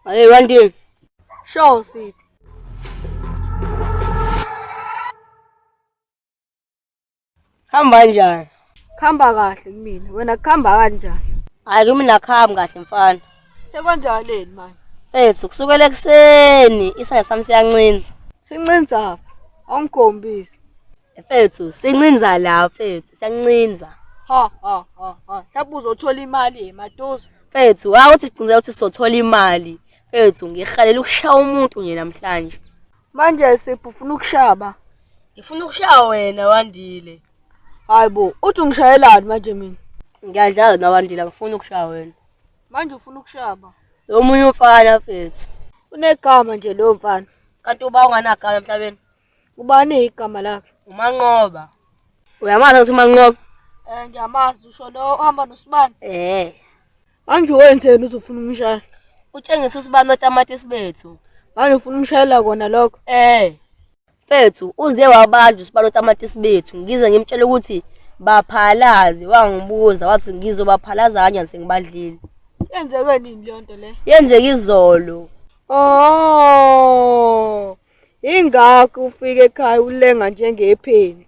Hey, one day. Sure, see. Hamba njani? Khamba kahle kumina. Wena khamba kanjani? Hayi kimi nakhami kahle mfana. Sekwenzakaleni manje? Ethu kusukela ekuseni isaya sami siyancinza. Sincinza apha. Awungikhombisi. Mfethu sincinza la mfethu siyancinza. Ha ha ha ha. Hlaba uzothola imali yematuzo. Mfethu hawu uthi sicinza ukuthi sizothola imali. Mfethu ngihalela ukushaya umuntu nje namhlanje. Manje siphu ufuna ukushaba. Ngifuna ukushaya wena wandile. Hayibo uthi ungishayelani manje mina? Ngiyadlala nawandile ngifuna ukushaya wena. Manje ufuna ukushaba. Lo munye umfana mfethu. Unegama nje lo mfana. Kanti uba unganagama emhlabeni. Ubani igama lakhe? Umanqoba. Uyamazi ukuthi umanqoba? Eh ngiyamazi usho lo ohamba nosibani. Eh. Manje wenzeni uzofuna umshaya? Utshengisa usibani otamatisi bethu. Manje ufuna umshayela kona lokho? Eh. Mfethu uze wabanjwa usibani otamatisi bethu. Ngize ngimtshela ukuthi baphalaze wangibuza wathi ngizobaphalaza kanye sengibadlile. Yenzeke nini le nto le? Yenzeke izolo. Oh. Ingakho ufike ekhaya ulenga njengepheni.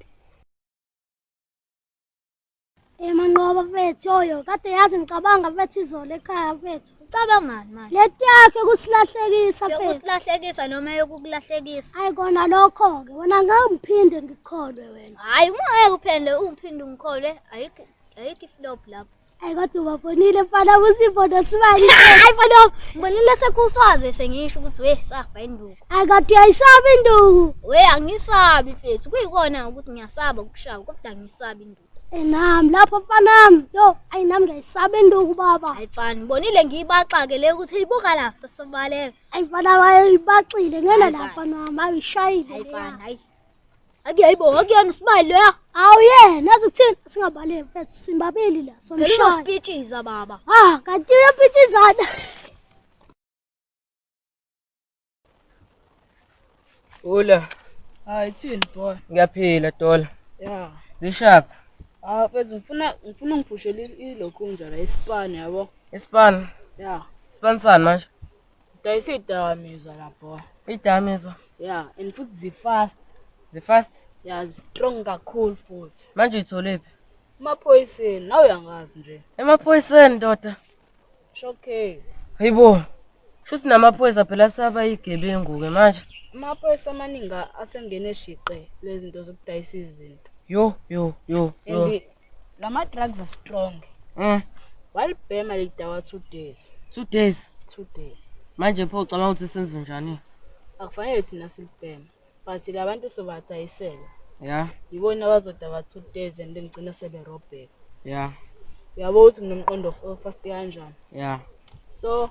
Emanqoba mfethu yoyo kade yazi ngicabanga mfethu izolo ekhaya mfethu. Ucabangani manje? Leti yakhe kusilahlekisa mfethu. Yokusilahlekisa noma yokukulahlekisa? Hayi kona lokho ke wena ngeke ngiphinde ngikholwe wena. Hayi uma ngeke uphende ungiphinde ungikholwe ayikho ayikho iflop lapho. Hayi kodwa ubabonile mfana usibodo sibani. Hayi mfana mbonile sekuswaze sengisho ukuthi we safa induku. Hayi kodwa uyayishaba induku. We angisabi mfethu kuyikona ukuthi ngiyasaba ukushawa kodwa angisabi induku. Enami lapho mfanami yo ayi nami ngiyayisaba induku baba. Hayi mfana mbonile ngiyibaxake le ukuthi ibuka la sesibaleka. Hayi mfana wayibaxile ngena la mfana wami ayishayile. Hayi mfana hayi Akuyayibo akuyona isibali leyo. Awuye nazi kuthini singabaleki mfethu simbabili la somshaya. Elizosipitshiza baba. Ah kanti uyapitshizana. Ula. Hayi thini boy. Ngiyaphila dola. Yeah. Zishapha. Ah mfethu ngifuna ngifuna ungiphushele ilokhunja la isipani yabo. Isipani. Yeah. Isipani sani manje? Dayisa idakamizwa la boy. Idakamizwa? Yeah, and futhi zi fast. Zi fast? Yeah, zi strong kakhulu futhi. Manje uyithole phi? Emaphoyiseni, nawe uyangazi nje. Emaphoyiseni ndoda. Showcase. Hayibo. Shuthi namaphoyisa phela saba igebengu ke manje. Amaphoyisa amaningi asengene shiqe lezi zinto zokudayisa izinto. Yo yo yo. yo. Lama drugs are strong. Mm. Walibhema lidawa 2 days. 2 days. 2 days. Manje pho ucabanga ukuthi senze njani? Akufanele thina silibhema. But labantu sobadayisela. Yeah. Yibona abazodawa 2 days and then gcina sebe robheka. Yeah. Uyabo ukuthi nginomqondo fast kanjani? Yeah. So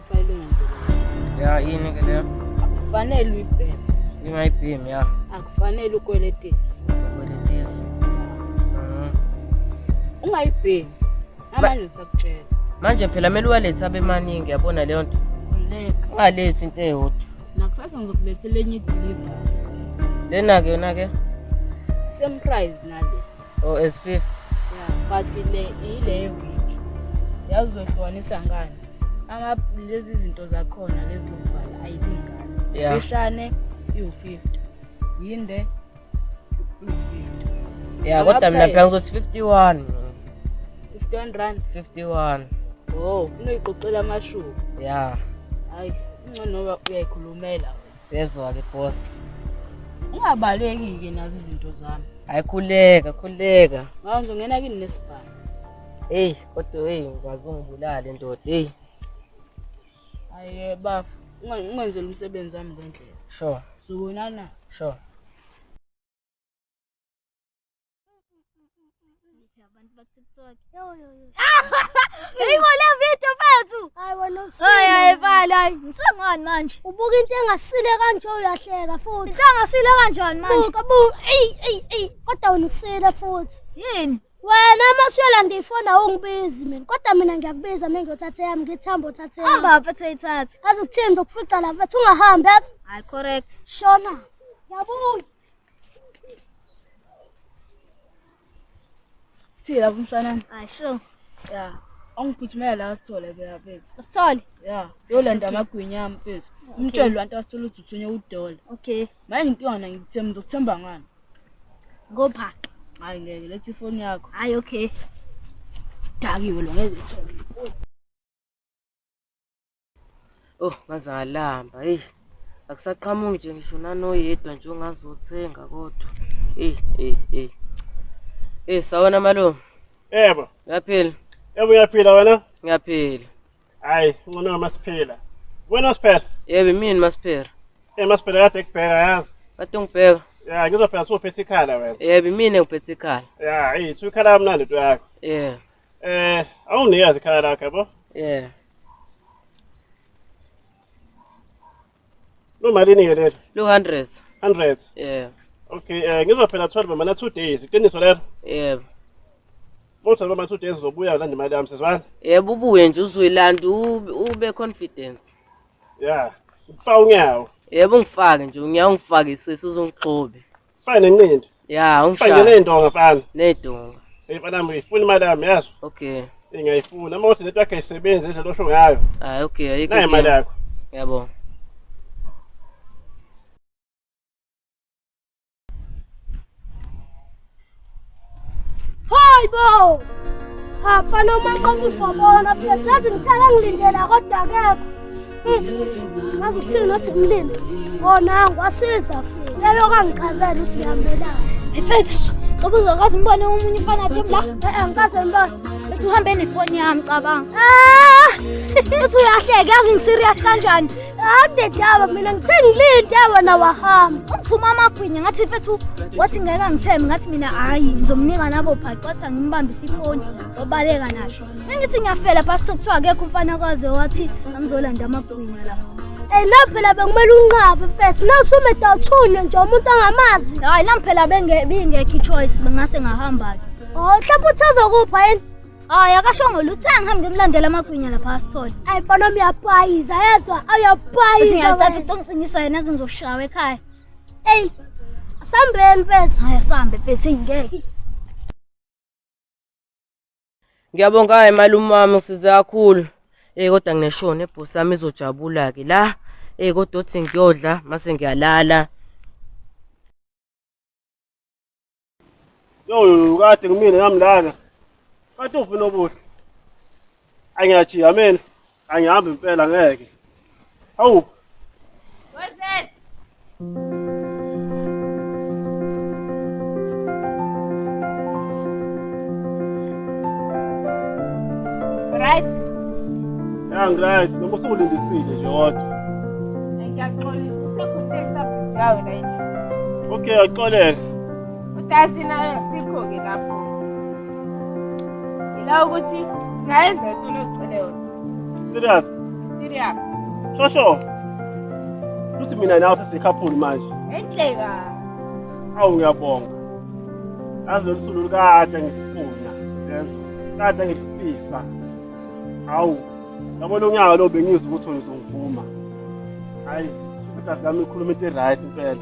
ya yini ke leyo akufanele uyibheme ngingayibhemi ya akufanele ukweletisi ukweletisi mhm. ungayibhemi namanje ngisakutshela manje phela kumele uwalethe abemaningi yabona leyo nto ungalethi into eyodwa nakusasa ngizokulethela enye ideliver lena-ke yona-ke same price nale Oh, as fifth. Yeah, but ile ile week. Yazi zohlukanisa ngani? Ama lezi zinto zakhona lezi zovala ayilingani. Yeah. Fishane iwu-50. Yinde iwu-50. Yeah, kodwa mina phela ukuthi 51. 51 rand. 51. Oh, unoyiqoqela amashuka. Yeah. Hayi, ingcono uyayikhulumela. Siyezwa-ke boss. Ungabaleki-ke nazo izinto zami. Hayi khuleka, khuleka. Ngawo ngizongena kini nesibhamu. Eyi, kodwa eyi ngikwazi ungibulale ndoda. Eyi, Hayi bafo, ungenzela umsebenzi wami ngendlela. sure, Sobonana. sure. abantu bakutiktok eyibona video bethu ayibalayi ngisangani manje ubuka into engasile kanje uyahleka futhi isangasile kanjani manje kodwa wena usile futhi yini wena uma usuyolanda ifoni awungibizi mina kodwa mina ngiyakubiza mina ngiyothatha yami ngithamba uthathe yami hamba mfethu ayithathe aze kuthini zokufica la mfethu ungahambi yazi hayi correct shona yabuya Thi lapho msanami. Hayi sho. Yeah. Angiphuthumela la sithole ke laphethu. Usithole? Yeah. Yolanda amagwinya ami mfethu. Umtshele lwanto asithola ukuthi uthunye udola. Okay. Manje ngintwana ngikuthemba ngizokuthemba ngani? Ngopha. Hayi ngeke lethi ifoni yakho. Hayi okay. Dakiwe lo ngeze ithole. Oh, ngaze ngalamba. Hey. Akusaqhamuki nje ngisho nanoyedwa nje ongazothenga kodwa. Hey, hey, hey. Hey, sawona malume. Yebo. Yaphila. Yebo uyaphila wena? Ngiyaphila. Hayi, ngcono masiphila. Wena usiphela? Yebo, imini masiphela. Eh masiphela kade kubheka yazi. Kade ngibheka. Ya, ngizophela sophethe ikhala wena. Yebo, imini ngiphethe ikhala. Ya, hey, thukhala kamnandi into yakho. Yebo. Eh, awuniyazi ikhaya lakhe yabo? Yeah. Lumalini ke lelo? Lu 100. 100. Yeah. Okay, eh ngizwa phela 12 mana 2 days. Iqiniso lelo? Yeah. Motha noma 2 days uzobuya landa imali yami sizwana? Yebo ubuye nje uzoyilanda u- ube confident. Yeah. Ukufa unyawo. Yebo ungifake nje unyawo ungifake sisi uzongixobe. Fine nenqindi. Yeah, umshaya. Fine nendonga mfana. Nedonga. Hey mfana mfana ifuna imali yami yazi. Okay. Ingayifuna uma uthi lento yakhe isebenze nje losho ngayo. Ah okay, ayikho. Nayi imali yakho. Yabo. Hayi bo! Afana uma qomuzobona phethu yazi ngithela ngilindela kodwa akekho. Hmm, ngazi ukuthini nothi kumlindi. Wona ngiwasizwa futhi. Leyo kangichazela ukuthi ngihambelana. Mfethu, ngoba uzokwazi umbone omunye umfana athi la. Eh, angikaze ngibone. Uthi uhambe nefoni yami cabanga. Ah! Uthi uyahleka yazi ngiserious kanjani? Ade Taba mina ngisengilinde wena wahamba. Uphuma amagwinya ngathi mfethu wathi ngeke angithembe ngathi mina hayi ngizomnika nabo bhaqa wathi angimbambise ifoni obaleka nasho. Ngithi ngiyafela past kuthiwa akekho umfana kwaze wathi angizolanda amagwinya la. Eh la phela bekumele unqabe mfethu nasume dawuthunye nje umuntu angamazi. Hayi la phela bengeke bingekho choice bengase ngahamba. Oh hlapha uthazokupha yini? Hayi akashongo lutho angihambe ngimlandela amagwinya lapha asithole. Hayi mfana wami uyapayiza yezwa awuyapayiza. Ngiyacela utongiqinisa yena azingizoshawa ekhaya. Ey sambeni mfethu. Hayi sambe mfethu ngeke. Ngiyabonga hayi malume wami ngisize kakhulu. Eh kodwa ngineshoni ebhosi yami izojabula ke la. Eh kodwa uthi ngiyodla mase ngiyalala. Yo kade kumina nami lana. Kade ufuna obuhle. Angiyajiya mina. Angihambi impela ngeke. Hawu. What's that? Right? Yeah, I'm right. Noma usulindisile nje kodwa. Ngiyaxolisa. Uphekuthe kusabhizi yawe la yini. Okay, axolele. Udasi naye sikho-ke lapho yila ukuthi singayenza into locele yona serious serious shosho ukuthi mina nawe sesikhaphuli manje enhleka awu ngiyabonga yazi lolu sulu lukade ngifuna yezwa kade ngifisa hawu yabona unyaka lo bengizwa ukuthi wena uzongivuma hhayi isikhathi lami ikhuluma into e-right impela